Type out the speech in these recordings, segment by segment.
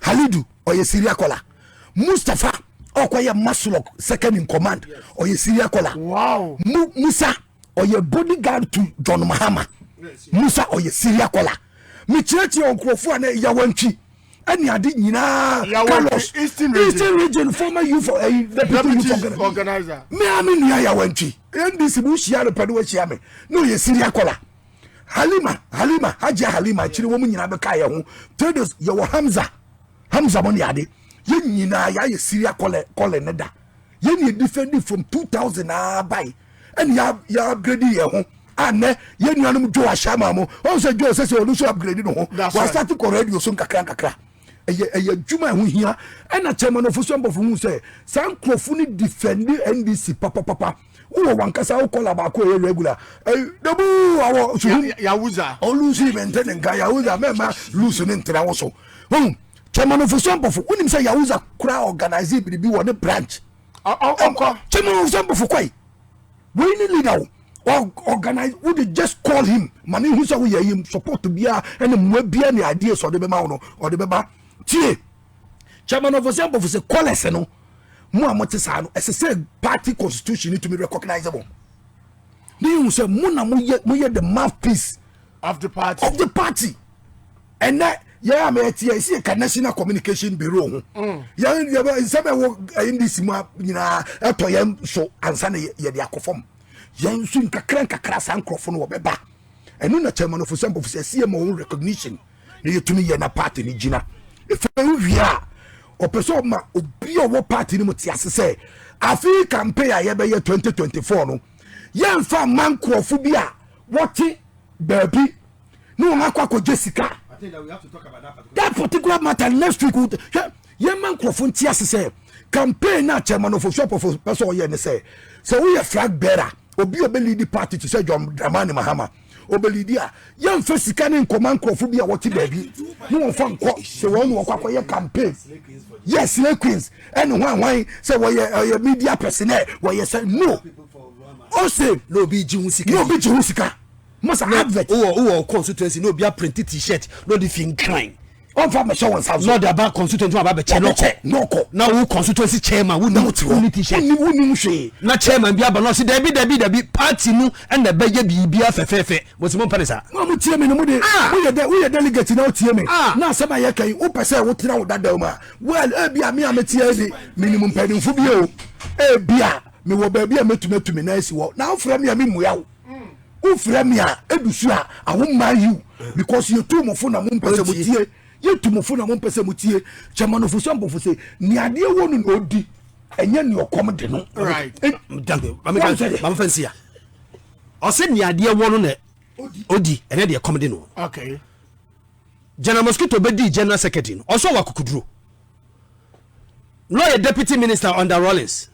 halidu ɔyɛ syria kɔla mustapha ɔkɔyɛ maslok second in command ɔyɛ syria kɔla Mu, musa ɔyɛ bodyguard to john mahama musa ɔyɛ syria kɔla mekyerɛkyerɛ ɔnkurɔfoɔ a na ɛyawantwi ɛne ade nyinaa carlos eastern region, region former youth for ɛyi eh, deputy youth organizer me a me nua yawantwi ndc mu hyia no pɛ no wahyia me na ɔyɛ siri akɔla halima halima hajia halima akyire wɔn nyinaa bɛka yɛ ho tedos yɛwɔ hamza hamza mo ne ade yɛn nyinaa yɛayɛ siri akɔlɛ kɔlɛ ne da Yɛn na yɛdifɛndi from 2000 aa bae ɛne yɛ yɛ upgrade yɛn ho a nnɛ yɛn nuanom Joe Ahyɛama mo ɔn sɛ Joe sɛsɛ ɔno nso upgrade ne ho wasate kɔ radio so nkakra nkakra ɛyɛ ɛyɛ adwuma ɛho hia ɛna Chairman Ofosu Ampɔfo hu sɛ saa nkurɔfo no defɛndi NDC papapapa wowɔ wankasa wo kɔla baako ɛyɛ regular dabu awɔ suhu yawuza ɔlusu mɛntɛ ne nka yawuza mɛma lusu ne ntena wo so Kyɛmanofosua Mpofo, wonim sɛ Yahuza kora organise biribi wɔ ne branch. Ɔnkɔ. Kyɛmanofosua Mpofo kɔe. Wei ne leader wo. Organize, wo de just call him. Ma ne hu sɛ woyɛ yim support biara ɛne mmoa biara ne ideas ɔde bɛma wo no, ɔde bɛba. Tie. Kyɛmanofosua Mpofo sɛ callers no, mo a mote saa no, ɛsɛ sɛ party constitution no tumi recognize mo. Ne yɛhu sɛ mo na moyɛ, moyɛ the mouthpiece of the party. Of the party. ɛnɛ yɛn a mɛte yɛn si ka national communication bureau ho mm. yɛn yɛbɛ nsɛm ɛwɔ ɛyɛ ndc mu nyinaa ɛtɔ yɛn so ansa na yɛde akɔ fam yɛn nso nkakra nkakra saa nkorɔfo no wɔbɛba ɛno na chairman ofo sɛmpofo sɛ ɛsi yɛ ma wɔn recognition na yɛtumi yɛ na party no gyina efi wie a ɔpɛ sɛ ɔma obi a ɔwɔ party no mu te ase sɛ afei campaign a yɛbɛyɛ twenty twenty four no yɛnfa mma nkorɔfo bi a wɔte baabi. ne wɔn akɔ akɔgye sika that particular matter next week hwɛ yɛma nkurɔfo nti ase sɛ campaign na chairman of osopofo pɛ sɛ ɔyɛ ne sɛ sɛ woyɛ flag bearer obi a ɔbɛlidi party te sɛ john dramani mahama ɔbɛlidi a yɛmfa sika ne nkɔma nkurɔfo bi a wɔte baabi ne wɔmfa nkɔ sɛ wɔn ne wɔkɔ akɔyɛ campaign yɛ slay queens ɛne ho ahwan sɛ wɔyɛ ɔyɛ media personnel wɔyɛ sɛ no ɔse na obi gye ho sika Musa advert. Wowɔ wowɔ wo constituency na obi aprinte t-shirt na ɔde fi nkran. Ɔnfa bɛhyɛ wɔn nsa so. Na ɔde aba constituency ma abɛkyɛ na ɔkɔ. Na ɔkɔ. Na wo constituency chairman wo nim wo ni t-shirt. Wonni wonni mu hwee. Na chairman bi aba na ɔsi dabi dabi dabi party no ɛna ɛbɛyɛ biribi afɛfɛɛfɛ. Mo si mo mpɛ ne saa. Mo a mo tie mi no mo de ah! mo yɛ dɛ wo yɛ delegate na o tie mi ah! na asɛm a yɛ ka yi wo pɛ sɛ wo tena wo dadaw mu a well ebi a mi a mi tie yi de mi nim mpanyinfo bi o ebi a mi wɔ baabi a mi tumi atu mi nan asi wɔ na afra mi a mi mua wo. wo fira mi a edu so a awo mmaa yiw because yɛ tu mo fo na mo mpɛ sɛ mo tie yɛ tu mo fo na mo mpɛ sɛ mo tie kyɛma no fo sɛ mpofo sɛ ni adeɛ wɔ no na odi ɛnyɛ ni ɔkɔm de no. mamefa nsi a ɔsɛ ni adeɛ wɔ no na odi ɛnyɛ deɛ kɔm de no. general mosquito bɛ di general secretary no ɔsɔ wɔ akokuduro lɔyɛ deputy minister under rollins.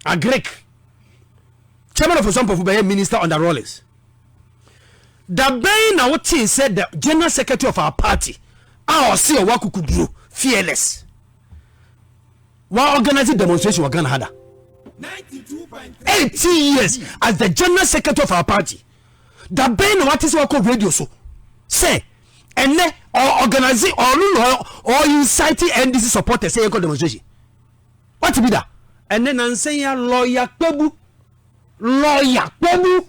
Agric. Chairman of Osuampɔ for bɛyɛ minister under Rawlings. Da bɛn na wotee sɛ the general secretary of our party a ɔse ɔwɔ akukuduro fearless wa organize demonstration wɔ Ghana ha da. 18 years as the general secretary of our party. Da bɛn na wate sɛ wakɔ radio so sɛ ɛnɛ ɔ organize ɔno na ɔ incite NDC supporters sɛ yɛnkɔ demonstration. Wate bi da? Ɛnnɛ nansa yi ara, lɔya Kpebu, lɔya Kpebu,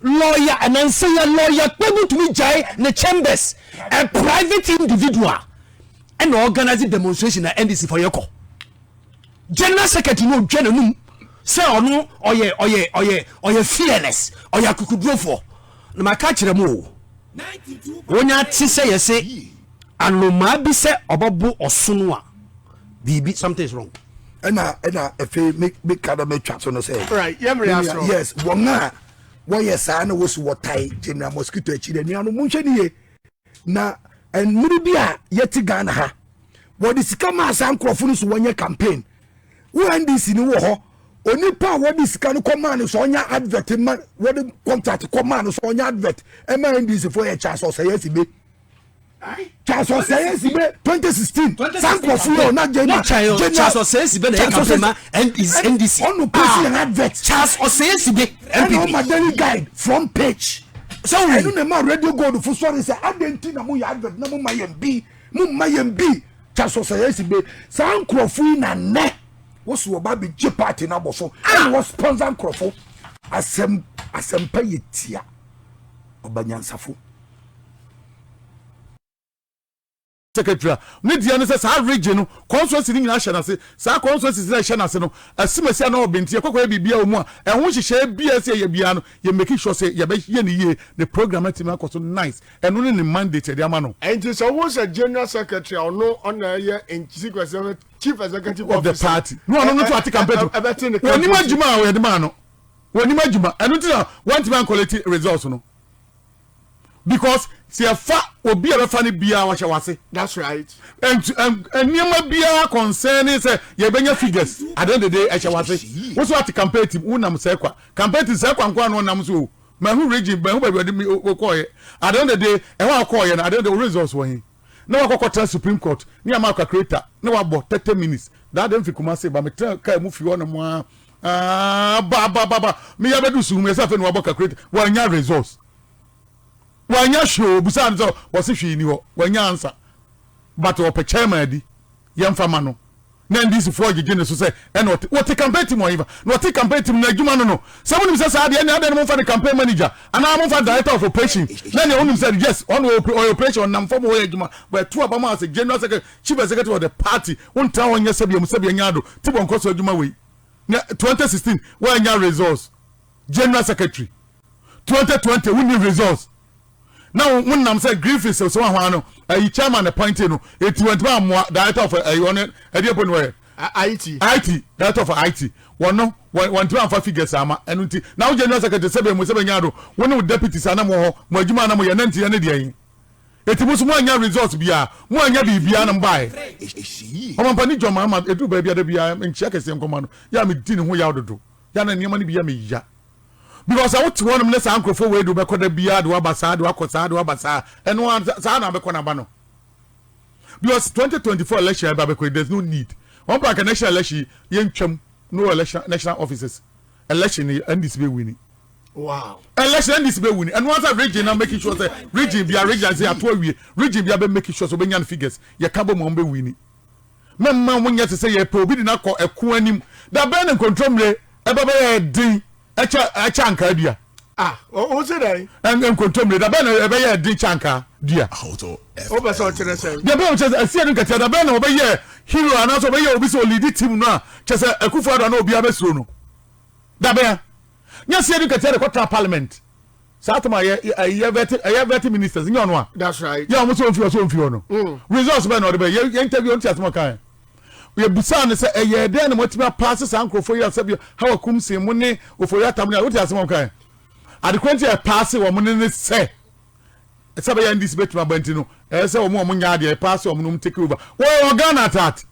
lɔya nansa yi ara, lɔya Kpebu tumi gyae ne chambers, a private individual ɛna organize demonstration na NDC fɔ yɛ kɔ. General secretary no odwa n'anum sɛ ɔno ɔyɛ ɔyɛ ɔyɛ ɔyɛ fearless, ɔyɛ akukudurofo. Na maka kyerɛ mo o. Wonya tse sɛ yɛse anomaa bi sɛ ɔbɛbo ɔsono a biribi something is wrong. ɛna ɛna efe me me ka dɛ metwa so no sɛ right yɛ mmerɛ asoro yes wɔn a wɔyɛ saa na wɔsi wɔtae gyina mosquito akyi dɛ nua no mo nhwɛ ne yie na nnuru bi a yɛte ghana ha wɔde sika maa saa nkurɔfo no so wɔnyɛ campaign wo ndc ni wɔ hɔ onipa a wɔde sika no kɔ maa no sɛ ɔnyɛ advert ma wɔde contract kɔ maa no sɛ ɔnyɛ advert ɛma ndc fo yɛ charles ɔsɛyɛ si be charles ɔsɛyɛ si be twenty sixteen sankurɔfo yɛ ɔna jɛnna jɛnna charles ɔsɛyɛ si be na yɛ campaign ma ndc ɔno pɛsi yɛn advert charles ɔsɛyɛ si be npp ɛna ɔma daily guide front page sɛ wɔn ɛno na ɛma radio gold fo sɔre sɛ adɛn ti na mo yɛ advert na mo ma yɛn bi mo ma yɛn bi. Kyɛ so sɛ yɛsi be saa nkurɔfo yi na nnɛ wo so wɔba abɛgye party no abɔ so ɛna wɔ sponsor nkurɔfo. Asɛm asɛmpa yɛ tia ɔba nyansafo. Secretary a ne deɛ ne sɛ saa region no constituency no nyinaa hyɛ n'ase. Saa constituencies no a ɛhyɛ n'ase no, Asimasi anaa Obin nti, yɛkɔkɔyɛ biribiara wɔ mu a, ɛho nhyehyɛeɛ biara a ɛsɛ yɛyɛ biara no, yɛ make sure sɛ yɛbɛyɛ no yie na program no atumi akɔ so nice. Ɛno ne ne mandate a yɛde ama no. Enti sɛ wohu sɛ General Secretary a ɔno ɔna ɛyɛ Chief Executive Officer of the party na ɔno no to ate campaign to ɛbɛte ne campaign wɔnim adwuma a wɔde maa no wɔnim adwuma ɛno ti na wɔntumi ankɔlɛti results no because sɛ yɛfa obi a bɛfa no biara wɔhyɛ wase that's right nneɛma biara concerning sɛ yɛbɛnya figures at the end of the day ɛhyɛ wase wo so ate campaign team wonam sɛ kwa campaign team sɛ kwa nkoa no ɔnam so o Mahu Regine, mahu baabi a ɔde me o kɔɔeɛ. At the end of the day, ɛhɔ a ɔkɔɔeɛ no, at the end of the day, wo results wɔ he? Na wakɔ akɔtena Supreme Court ne Amaa Kakreta na wabɔ thirty minutes. That day mefi Kumasi ba, metenaa car mu fii hɔnom ara aah ba ba ba ba, meyɛ abɛduru Suhumia sɛ afei na wabɔ Kakreta. Wannya results. Wannya hwee o, obisaa no sɛ ɔse hwee nni hɔ. Wannya answer. But ɔpɛ chairman adi, yɛmfa ma no. na NDC foɔ gyegye ne so sɛ ɛna ɔte wɔte campaign team wɔn fa na ɔte campaign team no adwuma no no sɛ mo nim sɛ saa deɛ ɛne adɛn no mo mfa no campaign manager anaa mo mfa director of operation na deɛ wonim sɛ yes ɔno ɔyɛ operation ɔnam fam ɔyɛ adwuma wɔ ɛto aba mu asɛ general secretary chief executive of the party wontra hɔ nyɛ sɛbia mu sɛbia nya ado ti bɔ nkɔ so adwuma wei na 2016 wɔanya results general secretary 2020 wonni results na wɔn nam sɛ griffiths sɛ wɔn ahwan no ɛyi chairman na appointee no eti wɔn ntoma amoa director of ɛyi wɔn ɛdi ɛpɔ ni wɔyɛ it it director of it wɔn no wɔn wɔn ntoma nfa figures ama ɛnu nti na wɔn general secretary sɛbɛn mu sɛbɛn nyaa do wɔn ne wɔn deputies anam wɔ hɔ mo adwuma anam yɛ nanti yɛ ne deɛ yi eti mo so mo anya results biara mo anya biribiara na mo baa yɛ wɔn mpanin jɔn mahama eduru baabi ada biara nkyia kɛseɛ nkɔma no yɛ a mi di ne ho yaw dodo yɛ a na nneɛma no bi yɛ mi ya. Because sɛ wote hɔnom ne saa nkurɔfoɔ wei de wobɛkɔ da biara de woaba saa de woakɔ saa de woaba saa ɛno ara saa na abɛkɔ n'aba no because 2024 election ɛba bɛkɔ there's no need wɔn pa nka national election yɛntwam no election national offices election ni ndc bɛ wini wow election ndc bɛ wini ɛno ara region na making sure sɛ region bia region sɛ ato awie region bia bɛ making sure sɛ ɔbɛnya no figures yɛka bɔ mu a wɔn bɛ wini Mɛmma wonyɛ te sɛ yɛrepɛ obi de no akɔ ɛko anim. Da bɛn na nkontommire ba bɛyɛ den kyɛ kyɛ ankaa dua? Ah, o, wose dɛn? Ɛn, nkontommire, da bɛn na ɛbɛyɛɛ den kyɛ ankaa dua? Wopɛ sɛ ɔkyerɛ sɛn? Deɛ ɛbɛyɛ ɔkyerɛ sɛ asie no nkatia, da bɛn na wɔbɛyɛɛ hero anaasɛ wɔbɛyɛɛ obi sɛ ɔliidi team no a kyerɛ sɛ Akufo-Addo a na obiara bɛsuro no? Da bɛn? Nyɛ asie no nkatia de kɔtena parliament. Saa atom a yɛ yɛ yɛ vɛti ɛyɛ vɛti ministers nyɛ ɔno a. That's right. Yɛ ɔmo sɛ ɔnfi hɔ sɛ ɔnfi hɔ no. Mm. Results bɛn na ɔde bɛ yɛ yɛ interview ɔnti asɛm ɔkan. Yɛ busaa no sɛ ɛyɛ dɛn na moatumi apaase saa nkorɔfoɔ yi a sɛbi Hawa Kumsin mo ne Ofori Atam ne a wote asɛm ɔkan. Adekorɔ nti a ɛpaase wɔn ne ne sɛ sɛ bɛyɛ NDC bɛtumi aba nti no ɛyɛ sɛ wɔn a wɔn nyɛ adeɛ ɛpaase wɔn no wɔn take over. Wɔyɛ wɔ Ghana at heart.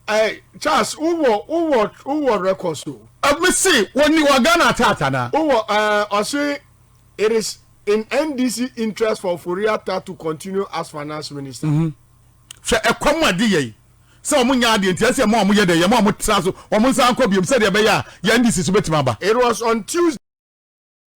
Ɛɛ Charles wo wɔ wo wɔ wo wɔ records o. Me se wɔ ni wɔ Ghana atata na. Wo wɔ ɛɛ ɔse it is in NDC interest for Ofori Atta to continue as finance minister. Mm hmm. Hwɛ ɛkwa mu ade yɛi. Sɛ wɔn nyɛ adeɛ nti ɛsɛ yɛ ma wɔn yɛ dɛ yɛ ma wɔn tra so wɔn nsa nkɔ biom sɛdeɛ ɛbɛyɛ a yɛn NDC so bɛtumi aba. It was on Tuesday.